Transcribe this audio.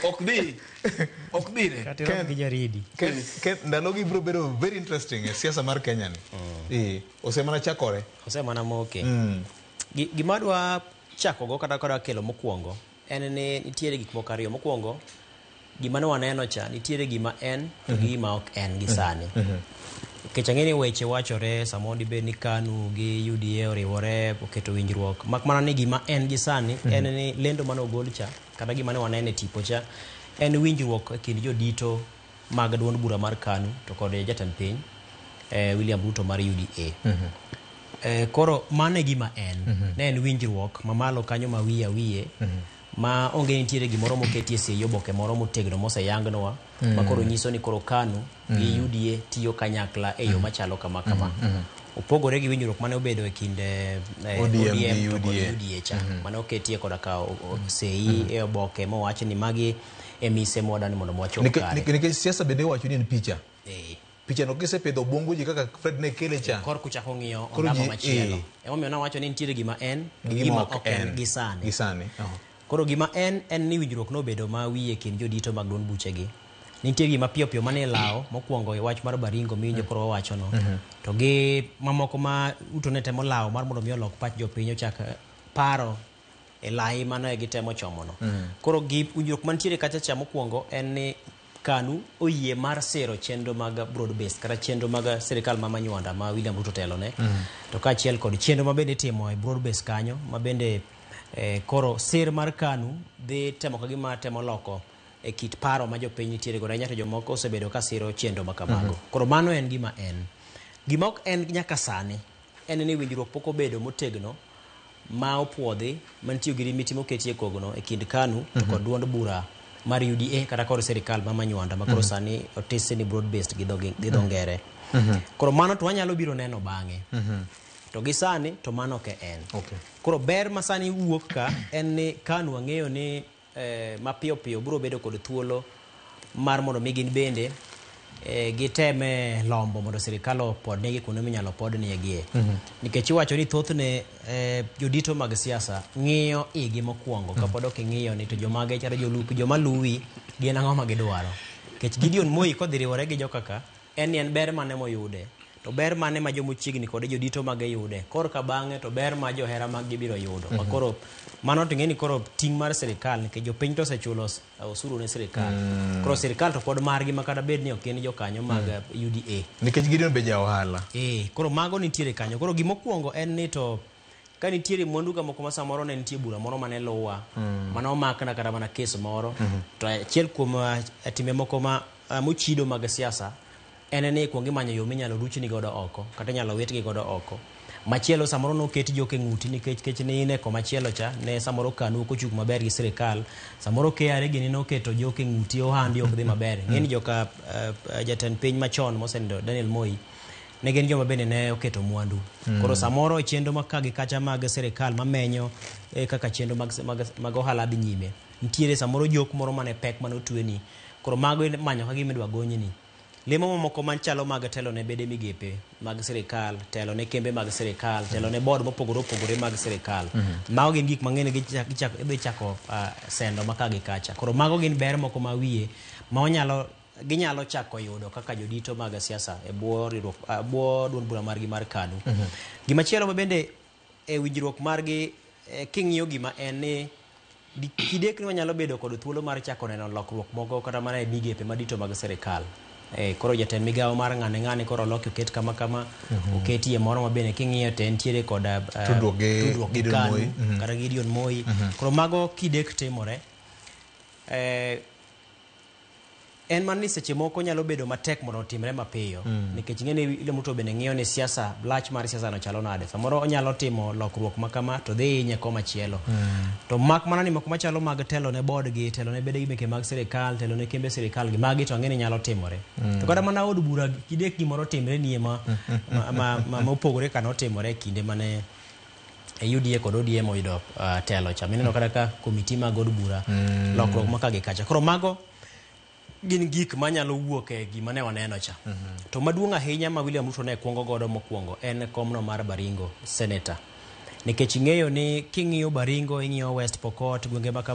ok dhi ok dhi ne kati rom gi jaridi Ken, Ken, ndalogi biro bedo very interesting e siasa mar kenya ni Eh, osemana chakore osemana moke Mm. Gi- gima dwa chakogo kata kadwa kelo mokwongo en ni nitiere gik moko ariyo mokwongo gima ne waneno cha nitiere gima en to gi gima ok en gi sani Nikech ang'e ni weche wachore samoro dibed ni KANU gi UDA oriwore oketo winjruok. Mak mana ni gima en gi sani en ni lendo mane ogol cha kata gima ne waneno e tipo cha en winjruok e kind jodito mag duond bura mar KANU to kod jatend piny eh, William Ruto mar UDA. Eh, koro mano e gima en ne en winjruok mamalo kanyo ma wiye awiye ma onge nitiere gimoro moketie sei oboke moro motegno moseyangnwa ma koro nyiso ni koro KANU gi UDA tiyo kanyakla e yo machalo kama kama. Opogore gi winjruok mane obedo e kind eh, ODM gi ODM to kod UDA. UDA cha mane oketie koda ka o- o- sei e oboke mowach ni magi e mise mwa dwani mondo mwachop Nike- kare. nike- Nikech siasa bende iwacho ni en picha. Eh, Pichano kisepidho obwongo ji kaka Fred ne kele cha. kor kuchako ng'iyo Koro ondamo ji- machielo. eh. Emomiyo nawacho ni nitiere gima en gi gima ok en gi sani. Gi sani. Aha. Koro gima en en ni winjruok nobedo ma wiye e kind jodito mag duond buchegi. Nitie gima piyo piyo mane ilawo mokwongo e wach mar Baringo miwinjo koro wawachono. To gi mamoko ma Ruto ne temo lawo mar mondo mi olok pach jopiny ochak eh, paro e lai mane gitemo chomono. Koro gi winjruok mantiere kacha cha mokwongo en ni KANU oyie mar siro chenro mag broad based kata chenro mag sirkal ma manywanda ma William Ruto telone to kaachiel kod chenro ma bende itimo e broad based kanyo ma bende eh, koro sir mar KANU dhi temo ka gima temo loko e kit paro ma jopiny nitiere godo ahinya to jomoko osebedo ka siro chenro ma kamago koro mano en gima en gima ok en nyaka sani en ni winjruok pok obedo motegno ma opuodhi mantie girimiti moketi e kogno e kind KANU to kod duond bura mar UDA kata kod sirikal ma manywanda makoro Mhm. sani otisi ni broad based gi dho gi dho Mhm. ngere. Mhm. Koro mano to wanyalo biro neno bang'e. Mhm. To gi sani to mano ok en. Koro ber ma sani wuok ka en ni KANU wang'eyo ni eh, mapiyo piyo biro bedo kod thuolo mar mondo mi gin bende eh, giteme lombo mondo sirikal opodnegi kuonde minyalo podniegie nikech iwacho ni thothne eh, jodito mag siasa ng'iyo igi mokwongo kapod ok ing'iyo ni to jomage chalo jolupi joma luwi gin ang'o ma gidwaro nikech gideon moi kodhi riwore gi jokaka En ni en ber mane moyude? To ber mane ma joma ochiegni kode jodito mage yude? Kor ka bang'e to ber ma johera mag gibiro yudo. Ma koro mano to ing'eni koro ting' mar sirikal nikech jopiny to osechulo os- osuru ne sirikal. Koro sirikal to pod margi ma kata bed ni ok gin jokanyo mag UDA. Nikech Gideon be ja ohala. Eh, koro mago nitiere kanyo. Koro gimokwongo en ni to Ka nitiere mwandu ka moko ma samoro ne nitie bura moro mane luwa, mane omakna kata mana kes moro, to achiel kuom ah, timbe moko ma ah, mochido mag siasa en ni kuong imanyo yo minyalo ruchni godo oko kata inyalo witgi godo oko. Machielo samoro noket jok e ng'uti nikech kech ne in e komachielo cha ne samoro kanu ok ochung maber gi sirikal. Samoro KRA gini noketo jok e ng'uti ohandi ok dhi maber. Ng'eni joka ah, ah, jatend piny machon mosenindo Daniel Moi ne gin joma bende ne oketo mwandu mm. koro samoro chenro ma ka gi kacha mag sirikal mamenyo e, kaka chenro mag, mag, mag ohala dhi nyime nitiere samoro jok moro mane pek mane otueni koro mago manyo ka gima idwa gonyni lemo mamoko machalo mag telo ne bede migepe mag sirikal telo ne kembe mag sirikal telo ne board mopogore opogore mag sirikal mm -hmm. mago gin gik mang'eny gidhi chako uh, sendo ma ka gi kacha koro mago gin ber moko ma wiye ma wanyalo ginyalo chako yudo kaka jodito mag siasa e bwo riwruok e bwo duond bura margi mar KANU. Gima chielo ma bende e winjruok margi eh, king'iyo gima en ni di- kidekni wanyalo bedo kod thuolo mar chako neno lokruok moko kata mana e migepe madito mag sirikal. Eh, koro jatend migawo mar ng'ane ng'ane koro oloki oket kama kama oketie moro ma bende king'iyo te nitiere kod eh, Tudruok gi tudruok gi Gideon KANU Moi. Mhm. kata Gideon Moi. Koro mago kidek timore eh, En mana ni seche moko nyalo bedo matek mondo otimre mapiyo mm. nikech ing'e ni ile mtu bende ng'iyo ni siasa lach mar siasa no chalo nade samoro onyalo timo lokruok ma kama to dhi inye koma chielo mm. to mak mana ni moko machalo mag telo ne board gi telo ne bede gi meke mag sirikal telo ne kembe sirikal gi magi to ang'e ni nyalo timore mm. to kata mana od bura kidek gimoro timre nie ma, ma, ma, ma, ma, ma opogore kana otimore kinde mane e UDA kod ODM oyudo ah, telo cha mineno kata ka komiti mag od bura lokruok ma ka gi kacha koro mago gin gik manyalo wuok e gima ne waneno cha to maduong' ahinya ma William Ruto ne kwongo godo mokwongo en komno mar Baringo senator nikech ing'eyo ni king'iyo Baringo ing'iyo West Pokot gwenge ma kama